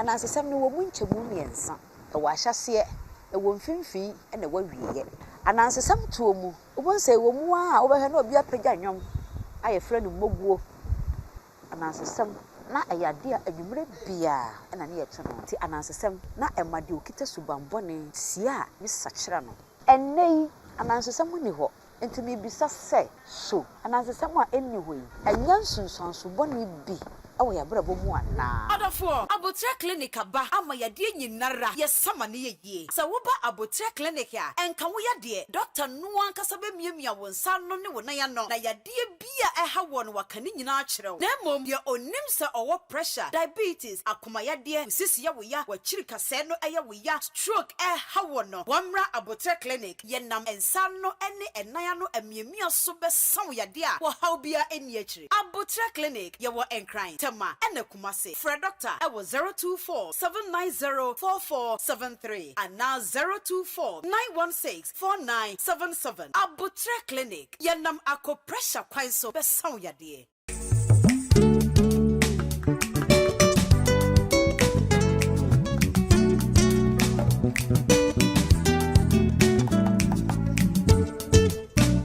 Anansesɛm no wɔ mu nkyɛmu mmiɛnsa. Ɛwɔ ahyɛaseɛ, ɛwɔ mfimfini, ɛna ɛwɔ awieɛ. Anansesɛm toɔ mu, wobɛhu sɛ ɛwɔ mu ara a wobɛhwɛ na obi apagya nnwom a yɛfrɛ no mmɔguo. Anansesɛm, na ɛyɛ adeɛ a anwummerɛ biara ɛna ne yɛto no. Nti anansesɛm, na ɛma deɛ ɔkita subammɔne sie a ne sakyera no. Ɛnnɛ yi, anansesɛm nni hɔ. Enti mibisa sɛ, so anansesɛm a enni hɔ yi anya nsunsuanso bɔne bi wɔ yɛn abrabɔ mu anaa? Ɔdɔfoɔ, Aboterɛ Clinic aba ama yadeɛ nyinara, yɛsa ma no yɛ yie. Sɛ woba Aboterɛ Clinic a, ɛnka wo yadeɛ, Doctor no ankasa bɛmiamia wo nsa ano ne wo nan ano, na yadeɛ, Biribi a ɛha wɔn no waka ne nyinaa akyerɛ wo. Na mmom deɛ ɔnim sɛ ɔwɔ pressure, diabetes, akomayadeɛ, nsisi yɛ wo ya, w'akyiri kasɛɛ no yɛ wo ya, stroke ɛreha wɔn no, wɔmmra aboterɛ clinic, yɛnam nsa ano ne nan ano amiamia so bɛsa wo yadeɛ a ɔhaw biara nni akyire. Aboterɛ clinic, yɛwɔ Nkran, Tema ɛna Kumasi. Frɛ Doctor ɛwɔ zero two four seven nine zero four four seven three anaa zero two four nine one six. Four nine seven seven Aboterɛ Clinic, Yɛnam Akopressure kwan so bɛsa wo yadeɛ.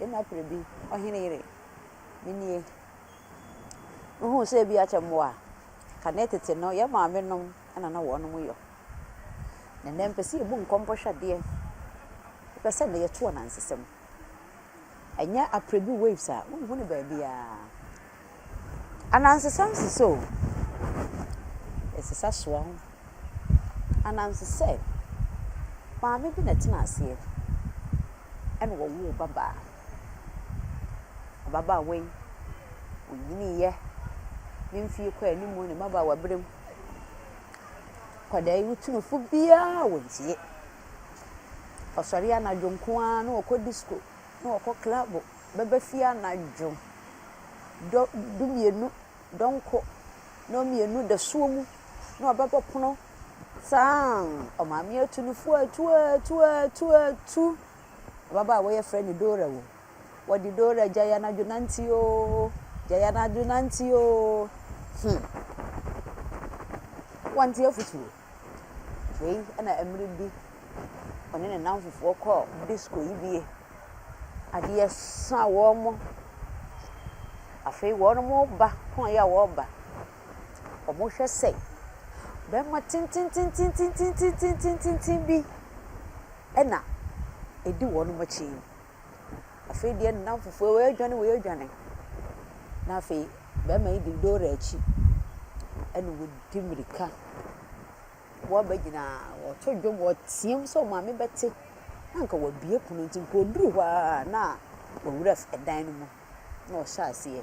Nna ber bi, ɔhen yere, me nie, muhun sɛ bi akyɛ mbowa a kanee tsetse no yɛ maame nom na na wɔnom yɔ. Na ndɛ mepɛ sɛ yɛbu nkɔmbɔ hwɛ adeɛ, epɛ sɛ ndɛ yɛto anansesɛm, ɛnyɛ aprɛ bi waves a wonhu no baabiara. Anansesã nsesã o, nsesã soa ho. Anansesã, maame bi na ɛtena aseɛ ɛna ɔwoo babaa. Ababaawa yi, ɔnyiniiɛ, ne mfeɛ kɔ anim wɔ ne mmabaawa berɛ mu. Akwadaa yi wo tu no fo biara a ɔntie. Ɔsɔre anadwo nko ara na ɔkɔ disko, na ɔkɔ klabo. bɛba fie anadwo dɔ dumienu dɔnko na mmienu dasuo mu na ɔbɛbɔ pono saaann ɔmaame atu no fo atuatuatuatu ababaawa yi yɛfrɛ no Dora o wɔde Dora gyae anadwo nante oo gyae anadwo nante oo hmm wɔnte afutuo. Afei na mmerɛ bi ɔne ne nnamfofoɔ kɔɔ disko yi bi. Adeɛ sa wɔn. Afei wɔreba kɔn yi a wɔreba. Wɔhwɛ sɛ barima tententententen bi na edi wɔn akyi. Afei deɛ ne nnamfofoɔ wɔredwane wɔredwane. Na afei barima yi de lorry akyi ɛna ɔdi mmirika. Wɔabɛgyina wɔreto dwom wɔreteam sɛ wɔn maame bɛte. Na nka wɔabue pono nti nka ɔduru hɔ ara na owura dan no mu na ɔhyɛ aseɛ.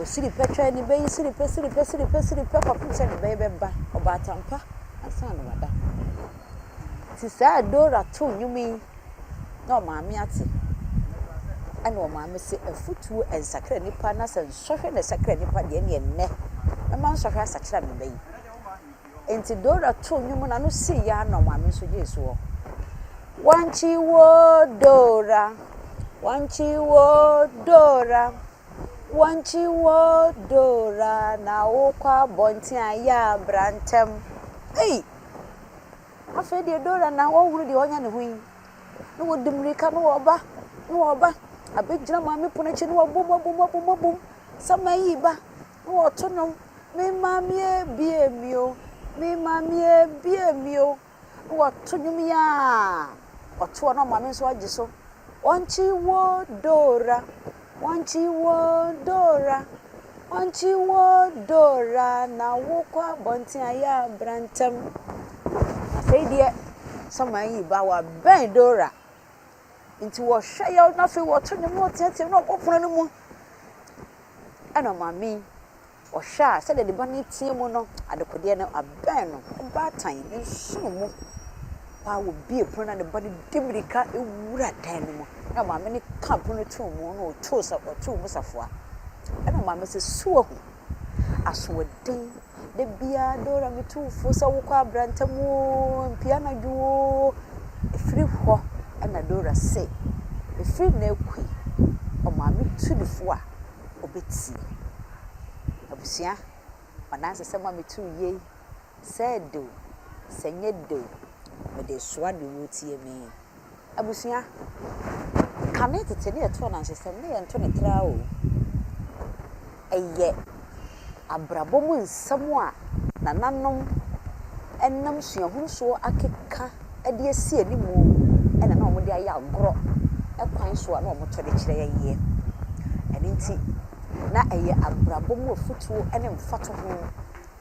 Ɔsiri pɛ twɛn ne ba yi siri pɛ, siri pɛ, siri pɛ, siri pɛ kɔpem sɛ ne ba yi bɛba. Ɔbɔ atampa ansa na wada. Nti saa a Dora too nnwom yi na ɔmaame ate. Ɛna ɔmaame se, afutuo ɛnsakra nipa na sɛ nsɔhwɛ na ɛsakra nipa deɛ ɛneɛ nnɛ mɛma nsɔhwɛ asakyera me ba yi. Enti Dora too nnwom na no sii yɛ ano ma me nso gyee soɔ. Wankye wo Dora, wankye wo Dora, wankye wo Dora na wokɔ abɔnten a yɛ a bra ntɛm. Ei! Afei deɛ Dora na ɔhunu deɛ ɔnyɛ ne ho yi. Na wɔdi mmirika na wɔba, na wɔba abɛgyina maame pono akyi na wɔabom abom abom abom sɛ mayi ba. Na wɔto nnwom, Me mamee bue me o, me mamee bue me o. Na wɔto nnwom yi a ɔtoɔ na ɔmaame nso agye so, Wankye wo Dora, wankye wo Dora, wankye wo Dora na wokɔ abɔnten a yɛ a bra ntɛm. Afei deɛ Samuel ayi ba, wabɛn Dora. Nti wɔhwɛ yaw na afei wɔto nnwom na wɔteateam na wɔkɔ pon no mu. Ɛna maame yi, ɔhwɛ a sɛdeɛ ne ba no reteɛ mu no, adekodeɛ no abɛn no, ɔbaatan no nsono mu paa wɔbie pono na ne ba no di mmirika wura dan no mu. Na maame no ka pono to mu na ɔtoo sa ɔtoo mu safoa. Ɛna maame sɛ so wahu. Asoɔden, da biara Dora me tu wo fo sɛ wokɔ abra ntɛm oo, mpue anadwo oo. Ɛfiri hɔ na Dora se, ɛfiri nnɛ rekɔ yi, ɔmaame tu no fo a, ɔbɛtie. Abusua, m'anansesɛm a metu wo yei. Sɛ de o, sɛ nyɛ de o, mede soa deɛ ɔretie me. Abusua, kane tete ne yɛto anansesɛm na yɛnto no traa o. Ɛyɛ abrabɔ mu nsɛm a nananom nam suahunu so akeka de asi animu na na wɔde ayɛ agorɔ kwan so a na wɔto de kyerɛ yɛn yɛ. Ɛno nti, na ɛyɛ abrabɔ mu afotuo ne mfatoho.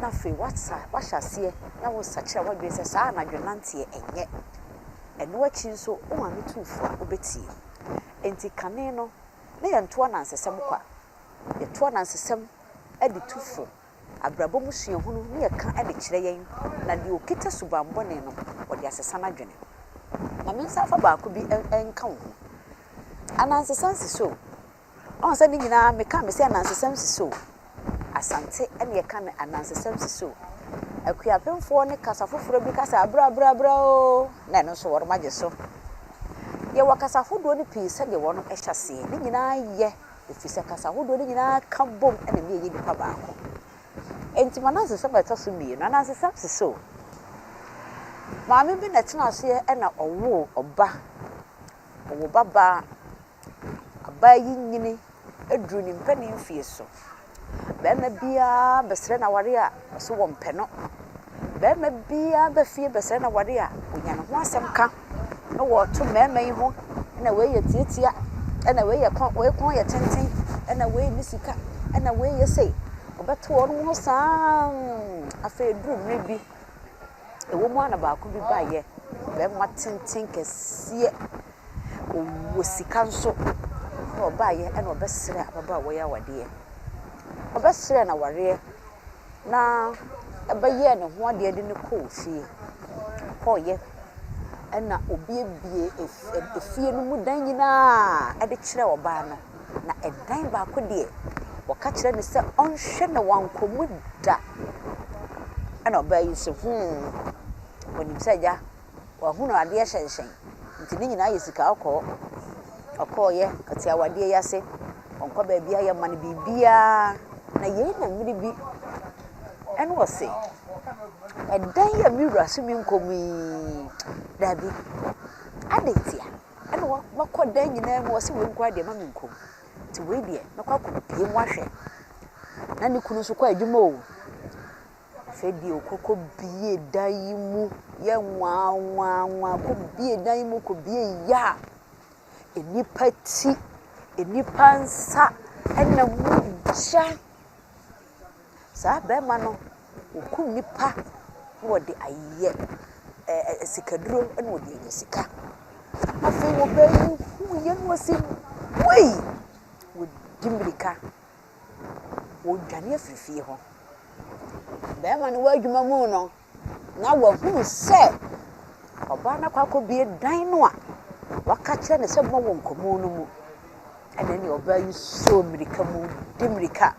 na afei wasa wahyɛ aseɛ na wosakyera w'adwene sɛ saa anadwo nanteɛ ɛnyɛ ɛno akyi nso wo maame tu fo a wobɛtie enti kane no na yɛnto anansesɛm kwa yɛto anansesɛm de tu fo abrabɔ mu suahunu ne yɛka de kyerɛ yɛn na deɛ ɔkita subanbɔne no wɔde asesa n'adwene ma me nsa afa baako bi nka wo ho anansesɛm si so Ɔhu sɛ ne nyinaa meka me sɛ anansesɛm si so. Asante ɛne ɛka me anansesɛm si so. Akuapemfoɔ ne kasa foforɔ bi kasa abra bra bra oo na ɛno nso wɔnom agye so. Yɛwɔ kasa ahodoɔ no pii sɛdeɛ wɔnom ɛhyɛ aseɛ. Ne nyinaa yɛ ɛfiri sɛ kasa ahodoɔ no nyinaa ka bom ɛna ɛma yɛyɛ nipa baako. Enti m'anansesɛm a ɛtɔ so mmienu, anansesɛm si so. Maame bi na ɛtena aseɛ ɛna ɔwoo ɔba. Ɔwoo ba baa. Abaa yi nyini aduru ne mpanin mfeɛ so. Barima biara bɛsrɛ no aware a, ɔse wɔmpɛ no. Barima biara ba fie bɛsrɛ no aware a, ɔnya ne ho asɛm ka na ɔɔto mmarima yi ho, ɛna wei yɛ tiatia, ɛna wei yɛ kɔn wei kɔn yɛ tenten, ɛna wei nni sika, ɛna wei yɛ sei. Ɔbɛto wɔn ho saa ara mm. Afei ɛduru mmerɛ bi, ɛwɔ mu ara na baako bi baeɛ, barima tenten kɛseɛ Ɔwɔ sika nso, na ɔbaeɛ na ɔbɛsrɛɛ ababaawa yi awadeɛ. Ɔbɛsrɛɛ no awareɛ na ɛbɛyɛɛ ne ho adeɛ de no kɔɔ fie. Ɔkɔeɛ ɛna ɔbuebue efie no mu dan nyinaa de kyerɛɛ ɔbaa no. Na ɛdan baako deɛ, ɔka kyerɛɛ no sɛ ɔnhwɛ na wankɔ mu da. Ɛna ɔbaa yi se, hmm, ɔnim sɛ agya Wahunu adeɛ hyɛnhyɛn, nti ne nyinaa yɛ sika ɔkɔɔ, ɔkɔɔeɛ, ɔte awadeɛ yi ase, ɔnkɔ baabiara, yɛma no biribiara. Na yei na mmere bi ɛna ɔse, ɛdan yi a me wura so menkɔ mu yi, daabi, adɛn nti a ɛna makɔ dan nyinaa mu, ɔse wei nkoaa deɛ ma menkɔ mu, nti wei deɛ mɛkɔ akɔpue mu ahwɛ. Na ne kunu nso kɔ adwuma o. Afei bio, kɔkɔ bie dan yi mu yɛ nwanwanwa. Kɔ bie dan yi mu, kɔ bie yɛ a, nnipa ti, nnipa nsa na mogya. Saa barima no, ɔkum nnipa na ɔde ayɛ ɛɛ sikaduro na ɔde anya sika. Afei ɔbaa yi huiɛ na ɔse wei! Wadi mmirika. wɔredwane afiri fie hɔ. Barima no wɔ adwuma mu no, na wahunu sɛ ɔbaa no akɔ akɔbie dan no a waka kyerɛ no sɛ mmɔ wɔ nkɔmmɔ no mu. Ɛna ne ɔbaa yi soo mmirika mu de mmirika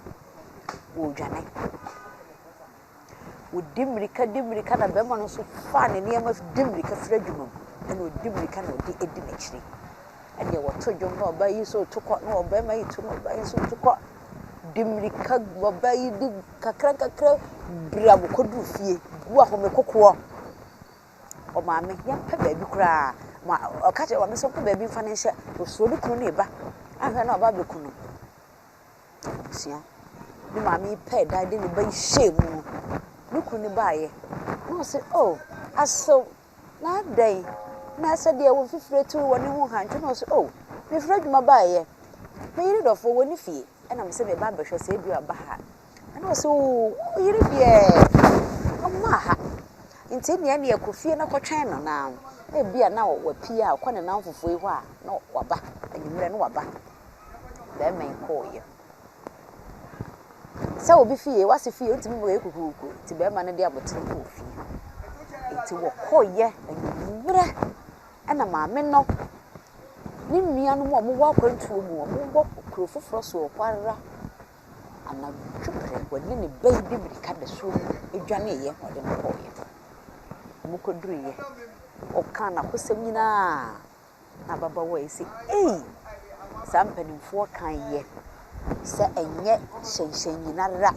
wɔredwane. Wɔdi mmirika di mmirika na barima no nso fa ne nneɛma di mmirika firi adwuma mu, ɛnna ɔdi mmirika na ɔde di n'akyiri. Ɛnna wɔto dwom na ɔbaa yi nso reto kɔ na ɔbarima yi to na ɔbaa yi nso reto kɔ. Di mmirika ɔbaa yi di nkakrankakra bere a wɔkɔduru fie, bu ahome kokoɔ. Ɔmaame, yɛmpɛ baabi koraa ma ɔka kyerɛ ɔmaame sɛ ɔmpɛ baabi mfa no nhyɛ. Ɔsuro ne kunu ne ne ba. Ahwɛ na ɔba abɛku no. abusua. Ne maame yi pɛɛ dan de ne ba yi hyɛɛ mu no, ne kunu no baeɛ na ɔse oh asew na adɛn na sɛ deɛ wɔn fifire tu wɔ ne ho hantu na ɔse oh mefiri adwuma baeɛ me yere dɔfoɔ wɔ ne fie ɛna me sɛ me ba bɛhwɛ sɛ ebi aba ha ɛna ɔse oh yere deɛ ɔmo aha nti nea nea kɔ fie na kɔtwɛn no na ebi a na wapie a ɔkɔ ne nan fofoɔ yi hɔ a na waba anwummerɛ na waba. bɛrima yi kɔeɛ. Sɛ obi fie, w'ase fie ntumi ma ɔyɛ kukuruku nti bɛrima no de abotire kɔɔ fie. Nti wɔkɔeɛ anwummerɛ ɛna maame no ne nuanom a wɔwɔ akwantuo mu, wɔwɔ kuro foforɔ so rekɔ ara, anadwo berɛ ɔne ne ba yi de mmirika da suo mu dwaneeɛ na ɔde no kɔeɛ. Wɔkɔduruiɛ, ɔkaa n'akosɛm nyinaa. Na ababaawa yi se, Ei! Saa mpanimfoɔ kaeɛ sɛ ɛnyɛ hyɛnhyɛnnyina ara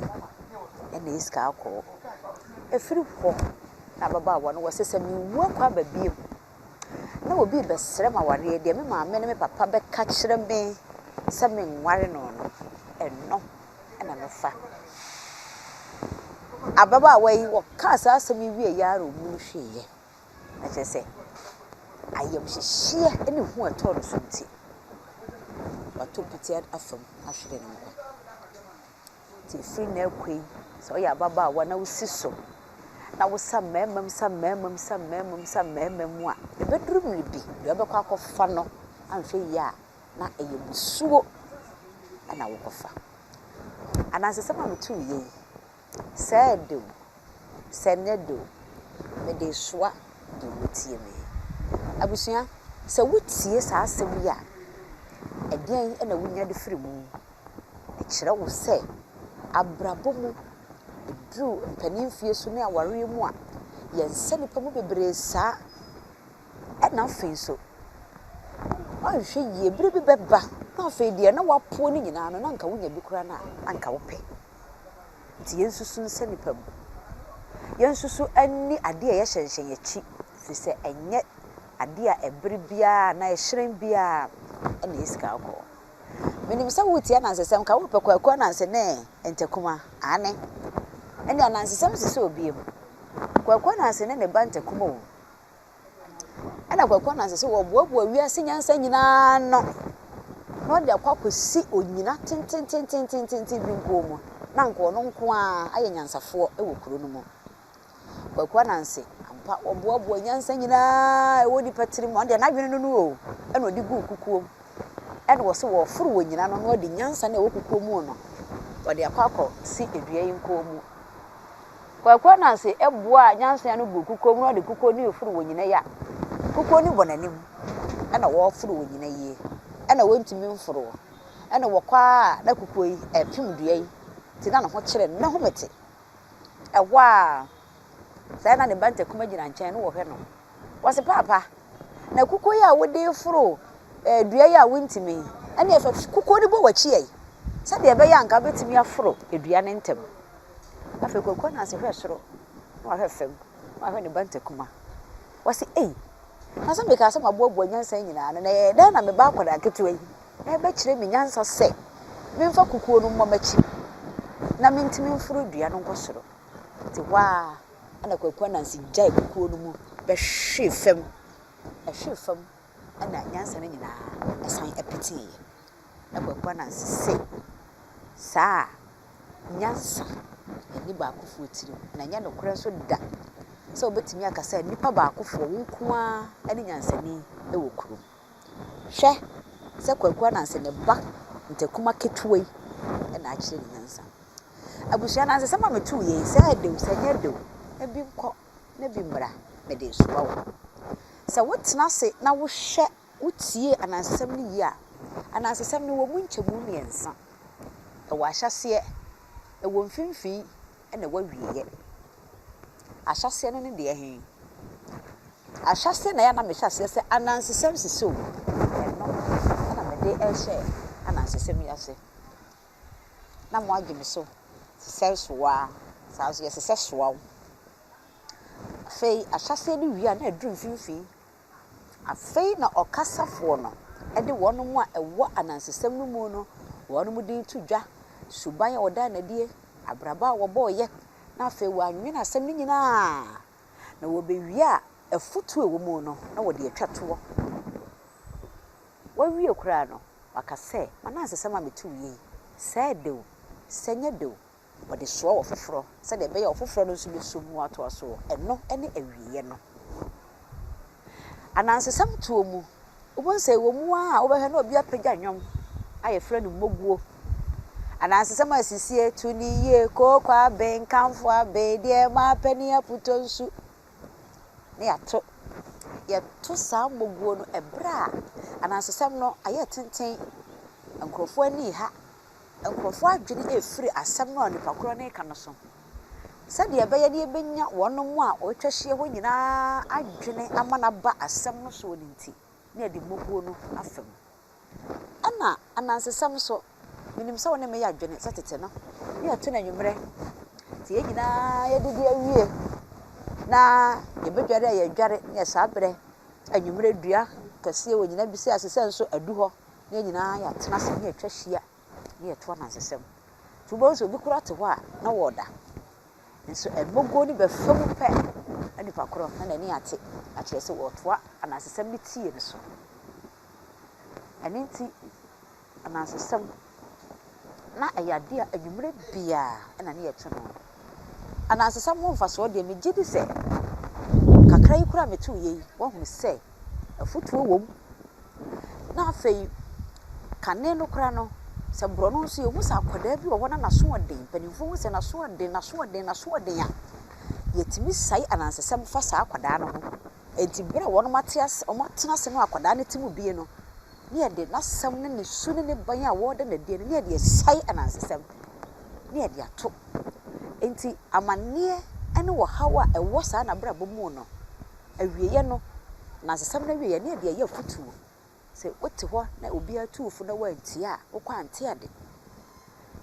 na ɛsi kaa kɔɔ. Ɛfiri hɔ na ababaawa no wɔse, Sɛ menwu akɔ aba bio na obi rebɛsrɛ m'awareɛ deɛ, me maame ne me papa bɛka kyerɛ me sɛ menware no no, ɛno na mɛfa. Ababaawa yi, wɔkaa saa asɛm yi wieeɛ ara ɔmu no hweeɛ. na kyerɛ sɛ ayamhyehyeɛ ne hu a ɛtɔɔ no so nti, wato piti afa mu ahwere ne nkwa. Nti ɛfiri nnɛ rekɔ yi, sɛ woyɛ ababaawa na wosi so na wosa mmarima mu, sa mmarima mu, sa mmarima mu, sa mmarima mu a, ɛbɛduru mmere bi, deɛ wobɛkɔ akɔfa no anhwɛ yie a, na ɛyɛ musuo na wokɔfa. Anansesɛm a metuiɛ yi, Sɛ ɛdɛ o, sɛ ɛnyɛ dɛ o, mede resoa deɛ woatie me yi. Abusua, sɛ wotie saa asɛm yi a, ɛdeɛn na wonya de firi mu? Ɛkyerɛ wo sɛ, abrabɔ mu, ɛduru mpanin mfeɛ so ne awareɛ mu a, yɛnsɛ nnipa mu bebree saa. Ɛna afei nso, woanhwɛ yie, berɛ bi bɛba na afei deɛ na woapoɔ no nyinaa no, na anka wonya bi koraa no a, anka wopɛ. Nti yɛnsusu ne sɛ nnipa mu. Yɛnsusu ne adeɛ a yɛhyɛnhyɛ yɛn akyi, firi sɛ ɛnyɛ adeɛ a ɛbere biara anaa ɛhyerɛn biara na ɛyɛ sika kɔkɔɔ. Menim sɛ woretie anansesɛm ka wopɛ kwaku ananse ne ntakuma, aane, ɛne anansesɛm sesɛ obiam, kwaku ananse ne ne ba ntakuma o. Ɛna Kwaku Ananse sɛ wɔboaboa wiase nyansa nyinaa ano na ɔde akɔ akɔsi onyina tentententententen bi nko mu na anka ɔno nko a ayɛ nyansafoɔ wɔ kuro no mu. Kwaku Ananse, ampa ɔboaboa nyansa nyinaa ɛwɔ nipa tiri mu, ɔno deɛ n'adwene no no o, ɛna ɔde guu kukuo mu. Ɛna wɔ sɛ wɔforo wɔ nyina no na ɔde nyansa no ɛwɔ kukuo mu no, ɔde akɔ akɔsi dua yi nko mu. Kwaku Ananse boaa Nyansea no buu kukow mu na ɔde kukow no foro wɔn nyinaa yia. Kukow no bɔ n'anim na wɔforo wɔn nyinaa yie. Ɛna wɔntumi mforo. Ɛna wɔkɔ ara a na kukow yi ɛrepem dua yi nti na ne ho kyere no. N'ahu me te. Ɛhɔ ara saa na ne ba Ntakuma gyina nkyɛn na ɔhwɛ no. Wɔse paapa na kukow yi a wode foro eh, dua yi a wontumi yi ɛne ɛfɛ kukow no bɔ w'akyi ɛ sɛdeɛ ɛbɛyɛ anka wobɛtumi aforo dua no ntɛm. Afei Kwaku Ananse hwɛɛ soro, na wahwɛ fam, na wahwɛ ne ba Ntakuma. Ɔse, Ei! Na sɛ mekaa sɛ maboaboa nyansa yi nyinaa no, na ɛyɛ dɛn na me ba akwadaa ketewa yi rebɛkyerɛ me nyansa sɛ memfa kukuo no mmɔ m'akyi na mentumi mforo dua no nkɔ soro? Nti hɔ ara na Kwaku Ananse gyae kukuo no mu bɛhwee fam. Ɛhwee fam na nyansa no nyinaa san peteeɛ. Ɛbɛba no ase sɛ, saa a, nyansa nni baakofoɔ tirim, na ɛnyɛ nokorɛ nso da sɛ wobɛtumi aka sɛ nnipa baakofoɔ, wo nko ara ne nyansani wɔ kuro mu. Hwɛ sɛ Kwaku Ananse ne ba Ntakuma ketewa yi na akyerɛ ne nyansa. Abusua anansesɛm a metuu yɛ yi, sɛ ɛde o, sɛ ɛnyɛ de o, na bi nkɔ na bi mmra, mede resoa wo. Sɛ wotena ase na wohwɛ Wotiee anansesɛm no yie a, anansesɛm no wɔ mu nkyɛmu mmiɛnsa. Ɛwɔ ahyɛaseɛ, ɛwɔ mfimfini, ɛna ɛwɔ awieeɛ. Ahyɛaseɛ no ne deɛ he? Ahyɛaseɛ na ɛyɛ a na mehyɛ aseɛ sɛ anansesɛm sisi o, ɛno na mede ɛrehyɛ anansesɛm yi ase. Na moagye me so sesɛe soa, saa nso yɛsesɛ soa o. Afei ahyɛaseɛ no wie a na aduru mfimfini, Afei na ɔkasafoɔ no de wɔn a ɛwɔ anansesɛm no mu no wɔn din to dwa, suban a wɔdaa no adie, abrabɔ a wɔbɔeɛ, na afei wɔanwene asɛm no nyina ara, na wɔbɛwie a afutuo a ɛwɔ mu no na wɔde atwa toɔ. Wɔawie koraa no, wɔaka sɛ, M'anansesɛm a metuuiɛ yi, sɛɛ dɛ o, sɛɛ nyɛ dɛ o, wɔde soa ɔfoforɔ sɛdeɛ ɛbɛyɛ a ɔfoforɔ no nso bɛsom mu atoa so wɔ ɛno ne awieeɛ no anansesɛm toɔ mu. Wobɛhu sɛ wɔ mu ara a wobɛhwɛ na obi apagya nnwom a yɛfrɛ no mmoguo. Anansesɛm a ɛsisie to ne yie, kooko abe, nkamfo abe, deɛ mapɛ ne aputo nsu na yɛato. Yɛto saa mmoguo no ɛberɛ a anansesɛm no ayɛ tenten, nkurɔfoɔ ani reha, Nkurɔfo adwene refiri asɛm no a onipa korɔ no reka no so, sɛdeɛ ɛbɛyɛ na yɛbɛnya wɔn a wɔatwa ahyia hɔ nyinaa adwene ama no aba asɛm no soɔ no nti, na yɛde mmubuo no afa mu. Ɛna anansesɛm nso, menim sɛ wo ne me yɛ adwene sɛ tete no, ne yɛto no anwummerɛ, nti yɛn nyinaa yɛdidi awie na yɛbɛdware a yɛdware, ne yɛ saa berɛ anwummerɛ dua kɛseɛ wɔ nyina bi sɛ ase sɛ nso adu hɔ na yɛn nyinaa yɛatena ase na yɛatwa ahyia na yɛto anansesɛm. Nti wobɛhu sɛ obi koraa te hɔ a na wɔreda. Nso ɛmmɔguo no bɛfa mu pɛ na nipa korɔ na n'ani ate akyerɛ sɛ wɔretoa anansesɛm no tie no so. Ɛno nti anansesɛm na ɛyɛ adeɛ a anwummerɛ biara na ne yɛto no. Anansesɛm ho mfasoɔ deɛ, megye di sɛ kakra yi koraa a metuiɛ yi, woahunu sɛ afutuo wɔ mu. Na afei, kane no koraa no, sɛ borɔno nso yɛhu sɛ akwadaa bi wɔ hɔ na n'asoɔden, mpanimfoɔ hu sɛ n'asoɔden, n'asoɔden, n'asoɔden a, yɛtumi sae anansesɛm fa saa akwadaa no ho. Enti bere a wɔate ase, wɔatena ase no akwadaa no ti mu bue no, ne yɛde n'asɛm ne ne su ne ne ban a wɔda no adi no, ne yɛde asiane anansesɛm, ne yɛde ato. Enti amanneɛ ne ɔhaw a ɛwɔ saa n'abrabɔ mu no, awieeɛ no, anansesɛm no awieeɛ, ne yɛde ayɛ afotuo. Sɛ wote hɔ na obiara tu wo fo na woantie a, wokɔ ante ade.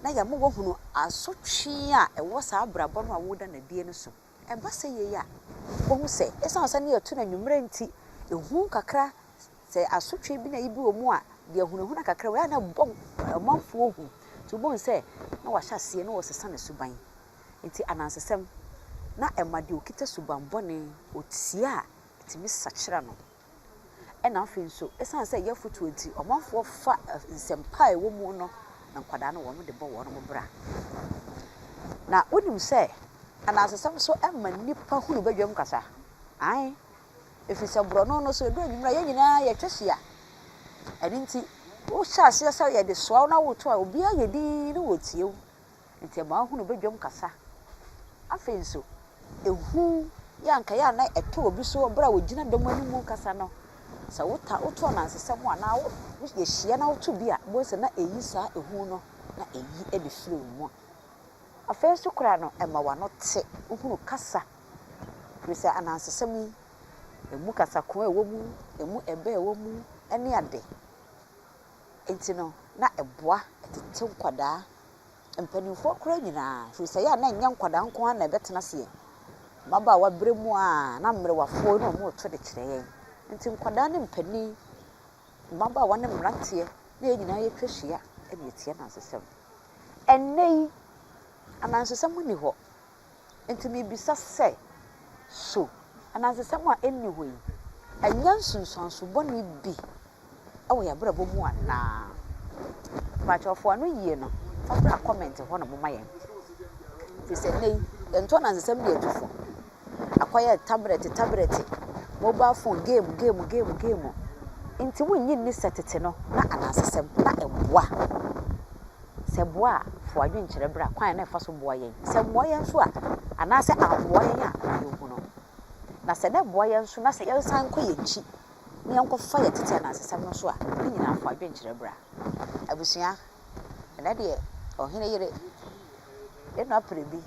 Na yɛama woahunu asotwe a ɛwɔ saa abrabɔ no a woreda no adie no so. Ɛba sɛ yei a, wobɛhu sɛ ɛsiane sɛ na yɛto no anwummerɛ nti, ehu kakra, sɛ asotwe bi na ebi wɔ mu a, deɛ ahunahuna kakra wei a na ɛbɔ ɔmanfoɔ hu. Nti wobɛhu sɛ na wɔahyɛ aseɛ na wɔresesa ne suban. Nti anansesɛm na ɛma deɛ ɔkita subammɔne, ɔtie a, ɛtumi sakyera no. Ɛna afei nso, ɛsiane sɛ ɛyɛ afotuo nti, ɔmanfoɔ fa nsɛmpa a ɛwɔ mu no na nkwadaa no wɔde bɔ wɔn bra. Na wonim sɛ anansesɛm nso ɛma nnipa hunu badwam kasa. Ae, ɛfiri sɛ borɔno no so ɛduru anwummerɛ a yɛn nyinaa yɛtwa hyia. Ɛno nti, wohyɛ aseɛ sɛ yɛde soa wo na woto a, obiara yɛ dinn na wɔtie wo. Ntsi ama ɔahunu badwam kasa. Afei so, ehu yi a nkae a nna ɛtɔ obi so ber a wogyina dɔm anim rekasa no, sɛ wota woto anansesɛm anaa wo yehyia na woto bi a, ibohu sɛ na eyi saa ehu no na eyi de fir wo mu. Afei so koraa no, ɛma w'ano tse, wohunu kasa. Fir sɛ anansesɛm yi, emu kasakoa wɔ mu, emu ɛbɛ wɔ mu ne ade. Enti no, na ɛboa tete nkwadaa, mpanimfoɔ koraa nyinaa, firi sɛ ɛyɛ a na ɛnyɛ nkwadaa nko ara na ɛbɛtena ase yɛn mmabaawa berɛ mu a na mmerewafoɔ na wɔreto de kyerɛ yɛn. Enti nkwadaa ne mpanin, mmabaawa ne mmeranteɛ na yɛn nyinaa yɛtwa hyia de retie anansesɛm. Ɛnnɛ yi, anansesɛm nni hɔ. Enti mibisa sɛ, So anansesɛm a enni hɔ yi nyɛ nsunsuanso bɔne bi wɔ yɛn abrabɔ mu anaa? Mpakyɛw fa ano yiye no bra comment hɔ na momma yɛn. Efisɛ nnɛ yi, yɛnto anansesɛm de atu fo. Akɔyɛ tablɛte tablɛte, mobile phone, game game game game. Enti wunnye nni sɛ tete no, na anansesɛm na ɛboa? sɛ boa a, fa w'adwene kyerɛ bra kwan a na ɛfa so boa yɛn. Sɛ mmoa yɛn nso a, anaasɛ ammoa yɛn a, ma yɛnhu no. Na sɛ na ɛboa yɛn nso na sɛ yɛresan kɔ yɛn akyi na yɛnkɔfa yɛn tete anansesɛm no nso a, ne nyinaa fa w'adwene kyerɛ bra. Abusua, ɛnɛ deɛ ɔhene yere, ne nua pere bi,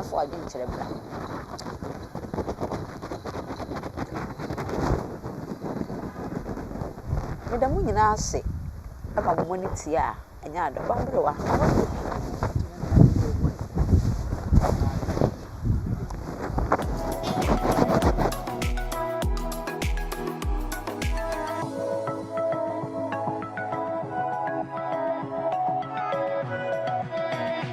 Afa w'adwene kyerɛ bra. Meda mo nyinaa ase ma mo ani tie a ɛnyɛ ade. Ɔba Mberewa.